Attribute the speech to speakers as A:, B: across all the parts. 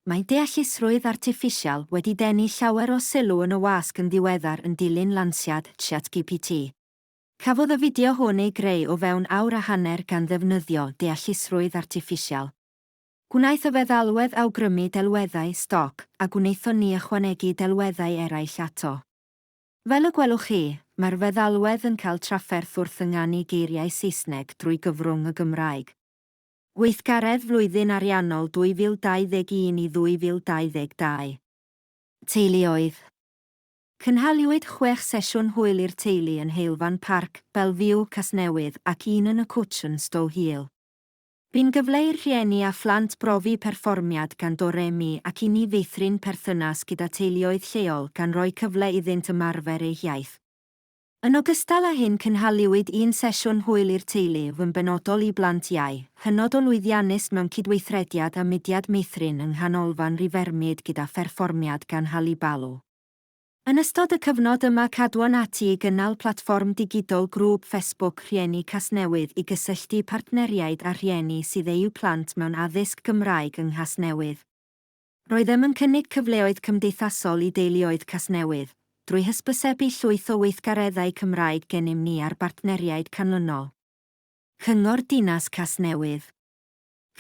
A: Mae deallusrwydd artiffisial wedi denu llawer o sylw yn y wasg yn ddiweddar yn dilyn lansiad ChatGPT. Cafodd y fideo hwn ei greu o fewn awr a hanner gan ddefnyddio deallusrwydd artiffisial. Gwnaeth y feddalwedd awgrymu delweddau stoc, a gwnaethon ni ychwanegu delweddau eraill ato. Fel y gwelwch chi, mae'r feddalwedd yn cael trafferth wrth ynganu geiriau Saesneg drwy gyfrwng y Gymraeg. Gweithgaredd flwyddyn ariannol 2021 i 2022. Teuluoedd. Cynhaliwyd chwech sesiwn hwyl i'r teulu yn Heulfan Parc, Belview, Casnewydd, ac un yn y Cwtsh yn Stow Hill. Bu'n gyfle i'r rhieni a phlant brofi perfformiad gan Do Re Mi ac i ni feithrin perthynas gyda teuluoedd lleol gan roi cyfle iddynt ymarfer eu hiaith. Yn ogystal â hyn cynhaliwyd un sesiwn hwyl i'r teulu, yn benodol i blant iau, hynod o lwyddiannus mewn cydweithrediad â mudiad Meithrin yng Nghanolfan Rivermead gyda pherfformiad gan Hallie Ballo. Yn ystod y cyfnod yma cadwon ati i gynnal platfform digidol grŵp Facebook Rhieni Casnewydd i gysylltu partneriaid â rhieni sydd eu plant mewn addysg Gymraeg yng Nghasnewydd. Roeddem yn cynnig cyfleoedd cymdeithasol i deuluoedd Casnewydd, drwy hysbysebu llwyth o weithgareddau Cymraeg gennym ni a'r bartneriaid canlynol, Cyngor Dinas Casnewydd,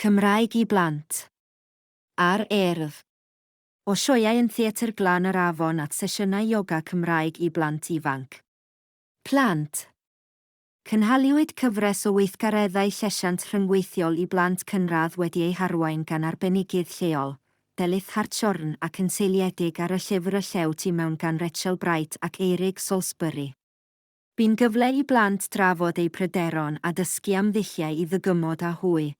A: Cymraeg i Blant, a'r Urdd, o sioeau yn Theatr Glan yr Afon at sesiynau ioga Cymraeg i blant ifanc, plant, Cynhaliwyd cyfres o weithgareddau llesiant rhyngweithiol i blant cynradd wedi eu harwain gan arbenigydd lleol, Delyth Hartshorn ac yn seiliedig ar y llyfr Y Llew Tu Mewn gan Rachel Bright ac Eirig Salisbury. Bu'n gyfle i blant drafod eu pryderon a dysgu am ddulliau i ddygymod â hwy.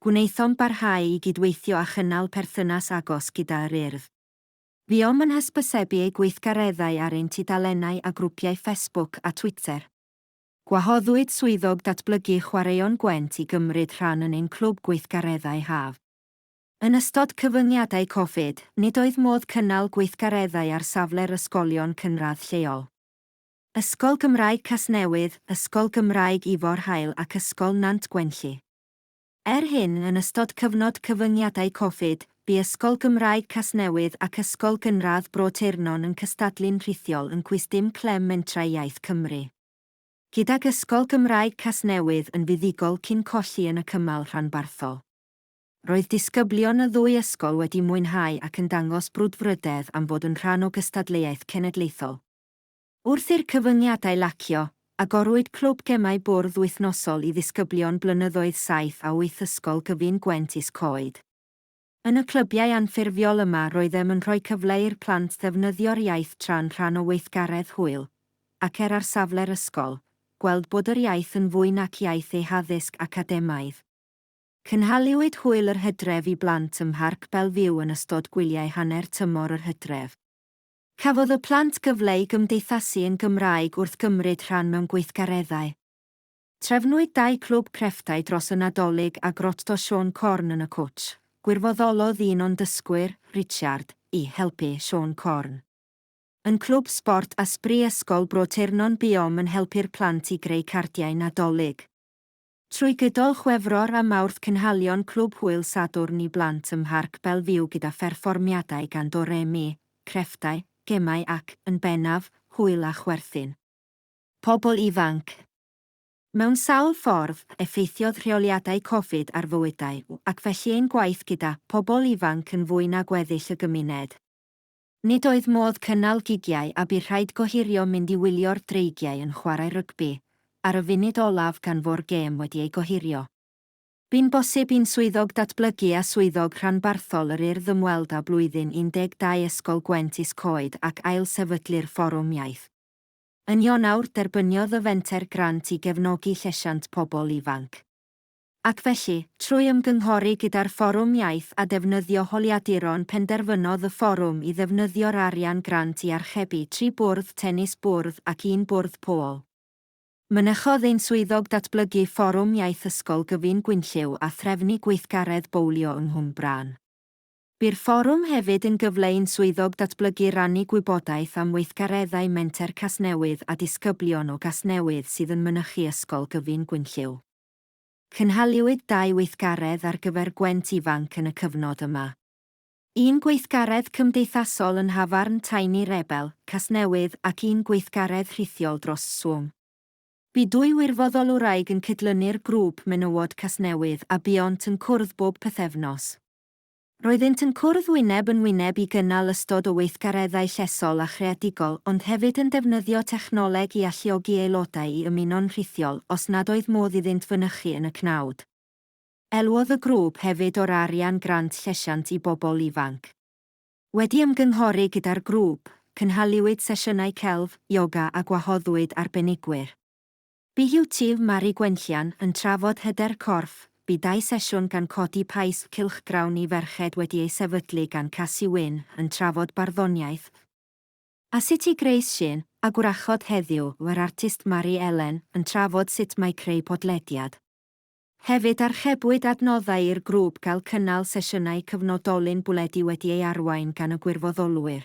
A: Gwnaethom barhau i gydweithio a chynnal perthynas agos gyda Yr Urdd. Buom yn hysbysebu ei gweithgareddau ar ein tudalennau a grwpiau ffesbwc a Twitter. Gwahoddwyd Swyddog Datblygu Chwaraeon Gwent i gymryd rhan yn ein clwb gweithgareddau haf. Yn ystod cyfyngiadau Covid, nid oedd modd cynnal gweithgareddau ar safle'r ysgolion cynradd lleol. Ysgol Gymraeg Casnewydd, Ysgol Gymraeg Ifor Hael ac Ysgol Nant Gwenlli. Er hyn, yn ystod cyfnod cyfyngiadau Covid, bu Ysgol Gymraeg Casnewydd ac Ysgol Gynradd Bro Teyrnon yn cystadlu'n rhithiol yn Cwis Dim Clem Mentrau Iaith Cymru, gydag Ysgol Gymraeg Casnewydd yn fuddugol cyn colli yn y cymal rhanbarthol. Roedd disgyblion y ddwy ysgol wedi mwynhau ac yn dangos brwdfrydedd am fod yn rhan o gystadleuaeth cenedlaethol. Wrth i'r cyfyngiadau lacio, agorwyd Clwb Gemau Bwrdd wythnosol i ddisgyblion blynyddoedd saith a wyth Ysgol Gyfun Gwent Is-coed. Yn y clybiau anffurfiol yma roeddem yn rhoi cyfle i'r plant ddefnyddio'r iaith tra'n rhan o weithgaredd hwyl, ac er ar safle'r ysgol, gweld bod yr iaith yn fwy nac iaith eu haddysg academaidd. Cynhaliwyd Hwyl yr Hydref i blant ym Mharc Bellevue yn ystod gwyliau hanner tymor yr hydref. Cafodd y plant gyfle i gymdeithasu yn Gymraeg wrth gymryd rhan mewn gweithgareddau. Trefnwyd dau clwb crefftau dros y Nadolig a Grotto Siôn Corn yn y Cwtsh. Gwirfoddolodd un o'n dysgwyr, Richard, i helpu Siôn Corn. Yn Clwb Sbort a Sbri Ysgol Bro Teyrnon buom yn helpu'r plant i greu cardiau Nadolig. Trwy gydol Chwefror a Mawrth cynhalion Clwb Hwyl Sadwrn i Blant ym Mharc Belfiw gyda pherfformiadau gan Do Re Mi, crefftau, gemau ac, yn bennaf, hwyl a chwerthin. Pobl ifanc. Mewn sawl ffordd, effeithiodd rheoliadau Covid ar fywydau ac felly ein gwaith gyda Pobl Ifanc yn fwy na gweddill y gymuned. Nid oedd modd cynnal gigiau a bu rhaid gohirio mynd i wylio'r Dreigiau yn chwarae rygbi ar y funud olaf gan fo'r gêm wedi ei gohirio. Bu'n bosib i'n Swyddog Datblygu a Swyddog Rhanbarthol yr Urdd ymweld â Blwyddyn 12 Ysgol Gwent Is-coed ac ailsefydlu'r Fforwm Iaith. Yn Ionawr, derbyniodd y Fenter grant i gefnogi llesiant pobl ifanc. Ac felly, trwy ymgynghori gyda'r Fforwm Iaith a defnyddio holiaduron penderfynodd y Fforwm i ddefnyddio'r arian grant i archebu tri bwrdd tenis bwrdd ac un bwrdd pôl. Mynychodd ein Swyddog Datblygu Fforwm Iaith Ysgol Gyfun Gwynllyw a threfnu gweithgaredd bowlio yng Nghwmbrân. Bu'r Fforwm hefyd yn gyfle i'n Swyddog Datblygu rannu gwybodaeth am weithgareddau Menter Casnewydd a disgyblion o Gasnewydd sydd yn mynychu Ysgol Gyfun Gwynllyw. Cynhaliwyd dau weithgaredd ar gyfer Gwent Ifanc yn y cyfnod yma. Un gweithgaredd cymdeithasol yn nhafarn Tiny Rebel, Casnewydd ac un gweithgaredd rhithiol dros Swm. Bu dwy wirfoddolwraig yn cydlynu'r grŵp menywod Casnewydd a buont yn cwrdd bob pythefnos. Roeddynt yn cwrdd wyneb yn wyneb i gynnal ystod o weithgareddau llesol a chreadigol ond hefyd yn defnyddio technoleg i alluogi aelodau i ymuno'n rhithiol os nad oedd modd iddynt fynychu yn y cnawd. Elwodd y grŵp hefyd o'r arian Grant Llesiant i Bobl Ifanc. Wedi ymgynghori gyda'r grŵp, cynhaliwyd sesiynau celf, ioga a gwahoddwyd arbenigwyr. BUT Mari Gwenllian yn trafod hyder corff, bu dau sesiwn gan Codi Paist Cylchgrawn i Ferched wedi ei sefydlu gan Casi Wyn yn trafod barddoniaeth a sut i greu sîn, a Gwrachod Heddiw yr artist Mari Elen yn trafod sut mae creu podlediad. Hefyd archebwyd adnoddau i'r grŵp gael cynnal sesiynau cyfnodolyn bwledi wedi ei arwain gan y gwirfoddolwyr.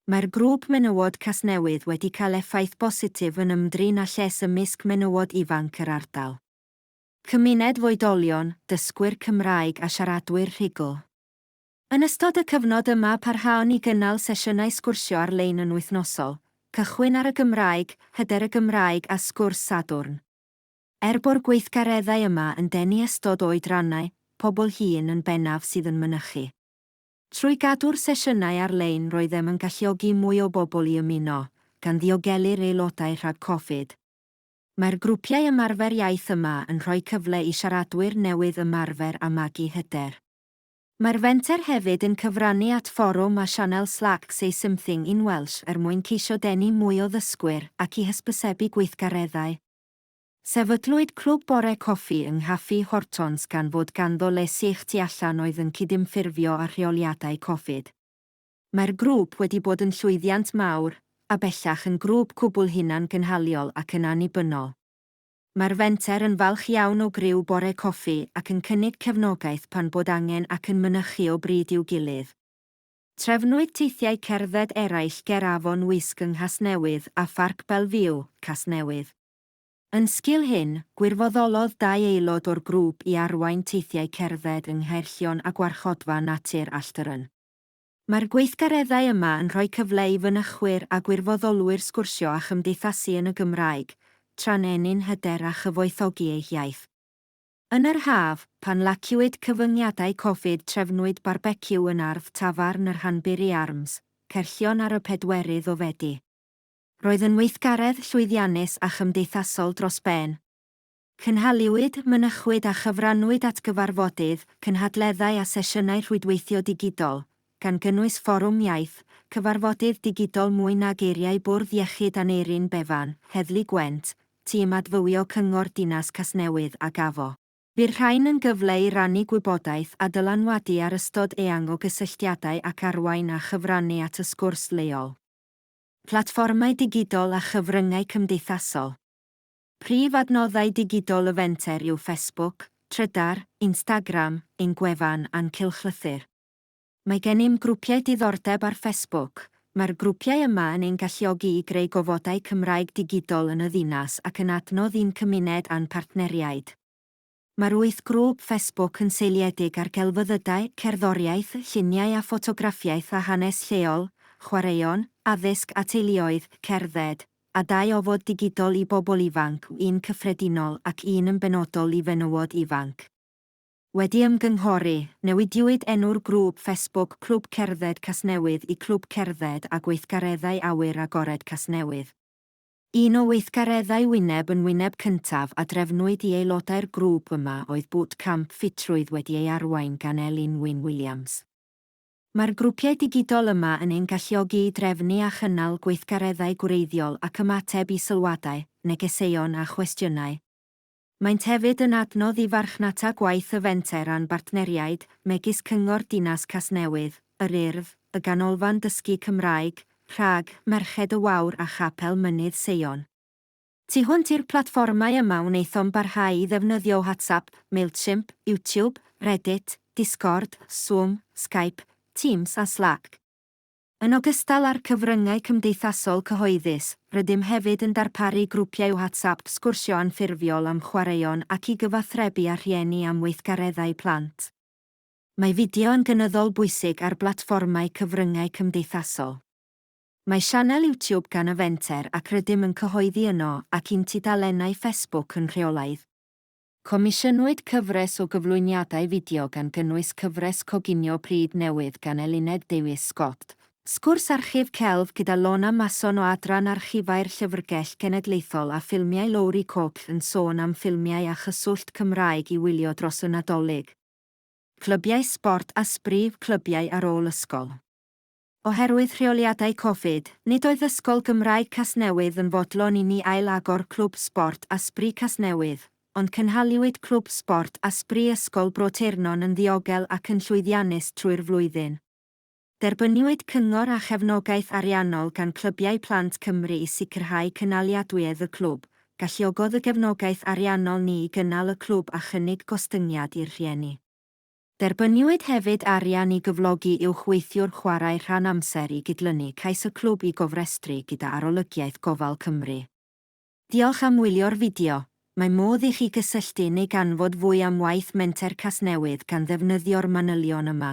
A: Mae'r Grŵp Menywod Casnewydd wedi cael effaith bositif yn ymdrin â lles ymysg menywod ifanc yr ardal. Cymuned foedolion, dysgwyr Cymraeg a siaradwyr rhugl. Yn ystod y cyfnod yma parhaon ni gynnal sesiynau sgwrsio ar-lein yn wythnosol, Cychwyn ar y Gymraeg, Hyder y Gymraeg a Sgwrs Sadwrn. Er bo'r gweithgareddau yma yn denu ystod o oedrannau, pobl hŷn yn bennaf sydd yn mynychu. Trwy gadw'r sesiynau ar-lein roeddem yn galluogi mwy o bobl i ymuno, gan ddiogelu'r aelodau rhag Covid. Mae'r grwpiau ymarfer iaith yma yn rhoi cyfle i siaradwyr newydd ymarfer a magu hyder. Mae'r fenter hefyd yn cyfrannu at fforwm a sianel Slack Say Something in Welsh er mwyn ceisio denu mwy o ddysgwyr ac i hysbysebu gweithgareddau. Sefydlwyd Clwb Bore Coffi yng Nghaffi Hortons gan fod ganddo le sych tu allan oedd yn cydymffurfio â rheoliadau Covid. Mae'r grŵp wedi bod yn llwyddiant mawr, a bellach yn grŵp cwbl hunan-gynhaliol ac yn annibynnol. Mae'r fenter yn falch iawn o griw Bore Coffi ac yn cynnig cefnogaeth pan bod angen ac yn mynychu o bryd i'w gilydd. Trefnwyd teithiau cerdded eraill ger Afon Wysg yng Nghasnewydd a Pharc Bellevue, Casnewydd. Yn sgil hyn, gwirfoddolodd dau aelod o'r grŵp i arwain teithiau cerdded yng Nghaerllion a Gwarchodfa Natur Alltyryn. Mae'r gweithgareddau yma yn rhoi cyfle i fynychwyr a gwirfoddolwyr sgwrsio a chymdeithasu yn y Gymraeg, tra'n ennyn hyder a chyfoethogi eu hiaith. Yn yr haf, pan laciwyd cyfyngiadau Covid trefnwyd barbeciw yn ardd tafarn y Rhanburi Arms, Caerllion ar y pedwerydd o Fedi. Roedd yn weithgaredd llwyddiannus a chymdeithasol dros ben. Cynhaliwyd, mynychwyd a chyfrannwyd at gyfarfodydd, cynhadleddau a sesiynau rhwydweithio digidol, gan gynnwys Fforwm Iaith, cyfarfodydd digidol mwy na geiriau Bwrdd Iechyd Aneurin Bevan, Heddlu Gwent, Tîm Adfywio Cyngor Dinas Casnewydd a Gafo. Bu'r rhain yn gyfle i rannu gwybodaeth a dylanwadu ar ystod eang o gysylltiadau ac arwain a chyfrannu at y sgwrs leol. Platfformau digidol a chyfryngau cymdeithasol. Prif adnoddau digidol y fenter yw Facebook, Trydar, Instagram, ein gwefan a'n cylchlythyr. Mae gennym grwpiau diddordeb ar Facebook. Mae'r grwpiau yma yn ein galluogi i greu gofodau Cymraeg digidol yn y ddinas ac yn adnodd i'n cymuned a'n partneriaid. Mae'r wyth grŵp Facebook yn seiliedig ar gelfyddydau, cerddoriaeth, lluniau a ffotograffiaeth a hanes lleol, chwaraeon, addysg a teuluoedd, cerdded, a dau ofod digidol i bobl ifanc, un cyffredinol ac un yn benodol i fenywod ifanc. Wedi ymgynghori, newidiwyd enw'r grŵp Facebook Clwb Cerdded Casnewydd i Clwb Cerdded a Gweithgareddau Awyr Agored Casnewydd. Un o weithgareddau wyneb yn wyneb cyntaf a drefnwyd i aelodau'r grŵp yma oedd bŵt camp ffitrwydd wedi ei arwain gan Elin Wyn Williams. Mae'r grwpiau digidol yma yn ein galluogi i drefnu a chynnal gweithgareddau gwreiddiol ac ymateb i sylwadau, negeseuon a chwestiynau. Maent hefyd yn adnodd i farchnata gwaith y Fenter a'n bartneriaid, megis Cyngor Dinas Casnewydd, Yr Urdd, y Ganolfan Dysgu Cymraeg, Prag, Merched y Wawr a Chapel Mynydd Seion. Tu hwnt i'r platfformau yma wnaethom barhau i ddefnyddio WhatsApp, Mailchimp, YouTube, Reddit, Discord, Zoom, Skype, Teams a Slack. Yn ogystal â'r cyfryngau cymdeithasol cyhoeddus, rydym hefyd yn darparu grwpiau WhatsApp sgwrsio anffurfiol am chwaraeon ac i gyfathrebu â rhieni am weithgareddau plant. Mae fideo yn gynyddol bwysig ar blatfformau cyfryngau cymdeithasol. Mae sianel YouTube gan y Fenter ac rydym yn cyhoeddi yno ac i'n tudalennau Facebook yn rheolaidd. Comisiynwyd cyfres o gyflwyniadau fideo gan gynnwys cyfres coginio pryd newydd gan Eluned Davies Scott, sgwrs archif celf gyda Lorna Mason o Adran Archifau'r Llyfrgell Genedlaethol a ffilmiau Lowri Cooke yn sôn am ffilmiau a chyswllt Cymraeg i wylio dros y Nadolig, clybiau sbort a sbri clybiau ar ôl ysgol. Oherwydd rheoliadau Covid, nid oedd Ysgol Gymraeg Casnewydd yn fodlon i ni ail-agor Clwb Sbort a Sbri Casnewydd, ond cynhaliwyd Clwb Sbort a Sbri Ysgol Bro Teirnon yn ddiogel ac yn llwyddiannus trwy'r flwyddyn. Derbyniwyd cyngor a chefnogaeth ariannol gan Clybiau Plant Cymru i sicrhau cynaliadwyedd y clwb, galluogodd y gefnogaeth ariannol ni i gynnal y clwb a chynnig gostyngiad i'r rhieni. Derbyniwyd hefyd arian i gyflogi uwchweithiwr chwarae rhan amser i gydlynu cais y clwb i gofrestru gyda Arolygiaeth Gofal Cymru. Diolch am wylio'r fideo. Mae modd i chi gysylltu neu ganfod fwy am waith Menter Casnewydd gan ddefnyddio'r manylion yma.